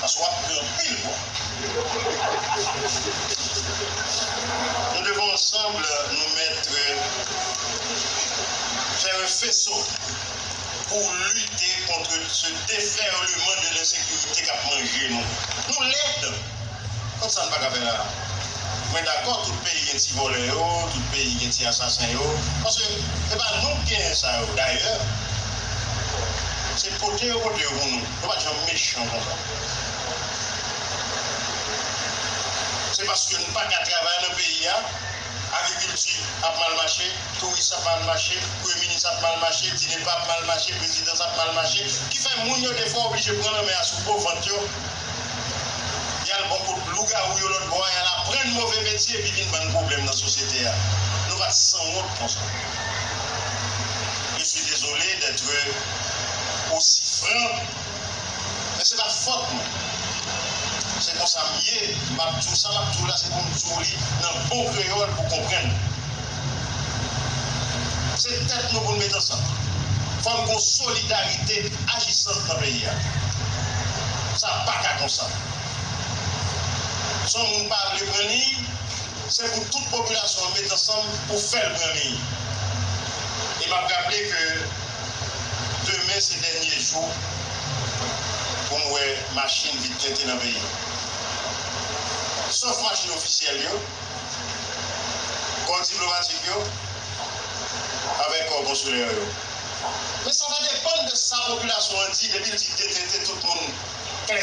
paske wap pran anpil gwa nou devan yon sab nou mèt fè yon feso pou lite kontre se defèleman de lensekirite kap manje nou nou lèd kòm sa nou paka fè la mwen dakò tout peyi gen ti vòlè yo tout peyi gen ti asasen yo paske se pa nou ki genyen sa yo dayè se pote yo pote yo pou nou. Yo pat janm mechan konsa. Se paske n pa ka travay nan peyi a, agrikilti ap mal mache, touris ap mal mache, premye minis ap mal mache, DINEPA ap mal mache, prezidans ap mal mache, ki fè moun yo defwa oblije pran lanmè a sou po vant yo, y al bò kot lougawou yo lòtbò a, y al aprann move metye epi vin bann pwoblèm nan sosyete a. Nou pat sanwont konsa. Je suis désolé d'être aussi franc men se pat fòt nou se konsa m ye m ap di w sa m ap di w la se pou m di w li nan bon kreyòl pou w konprann se tèt nou pou n met ansanm fò n gon solidarite ajisant nan peyi a sa paka konsa son moun pa vle pran liy. Se pou tout popilasyon an met ansanm pou fè l pran liy. E m ap raple ke demen se dènye jou pou m wè machin vit tente nan peyi m. Sof machin ofisyèl yo, kò diplomatik yo avèk kò konsilè yo. Men sa va depann de sa popilasyon an di depi l di detente tout moun klè.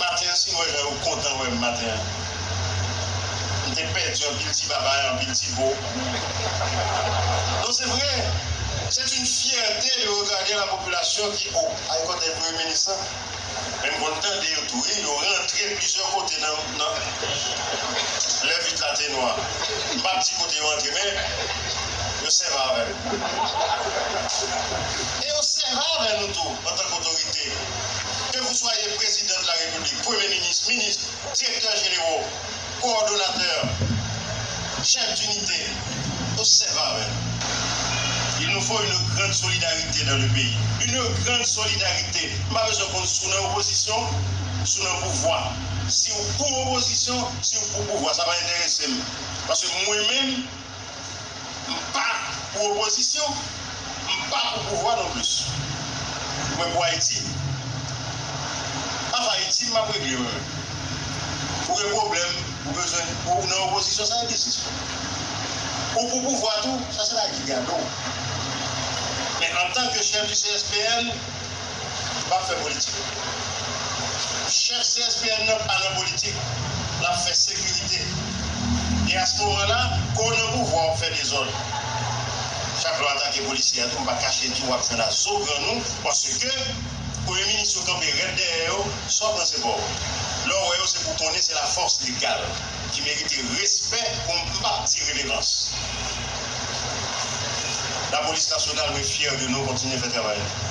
Maten an si m wè jan yo kontan wè m maten an M te pèdi anpil ti babay anpil ti bo Non se vre C'est une fierté de regarder la population ki o ay kotey premye minis lan Men m konn tande yo tou wi yo rantre plizyè kote nan lè vit la te nwa M pap di kote yo antre men yo sèva avè l E yo sèva avè nou tou antank otorite, kevouswa ye Prezidan de la Repiblik, Premye Minis, Minis, Direktè Jenero, Kowòdonatè, Chèf dinite, osèv avè nou. Il nous faut une grande solidarité dans le pays, une grande solidarité, m pa bezwen konn si w nan opozisyon, si w nan pouvwa, si w pou opozisyon, si w pou pouvwa, sa pa enterese m, paske mwen menm M pa pou opozisyon, m pa pou pouvwa non plis. Mwen pou Ayiti. Afè Ayiti m ap regle mwen menm. Ou gen pwoblèm, ou bezwen, ou nan opozisyon sa se biznis pou ou. Ou pou pouvwa tou, sa se lagigad ou. Men antanke chèf di CSPN. Lap fè politik. Chèf CSPN nan pa nan politik, lap fè sekirite. E a ce moment là, ke w nan pouvwa wap fè dezòd. Chak lè w atake polisye a tou, m pa kache di w wap jwenn a zo grann ou, paske premye minis yo kanpe rèd dèyè yo, sa w pran se pa w. Lè w wè yo se pou w konnen se la force legale. ki merite respè pou m m pap di revevans. Lapolis nasyonal mwen fyè de nou kontinye fè travay nou.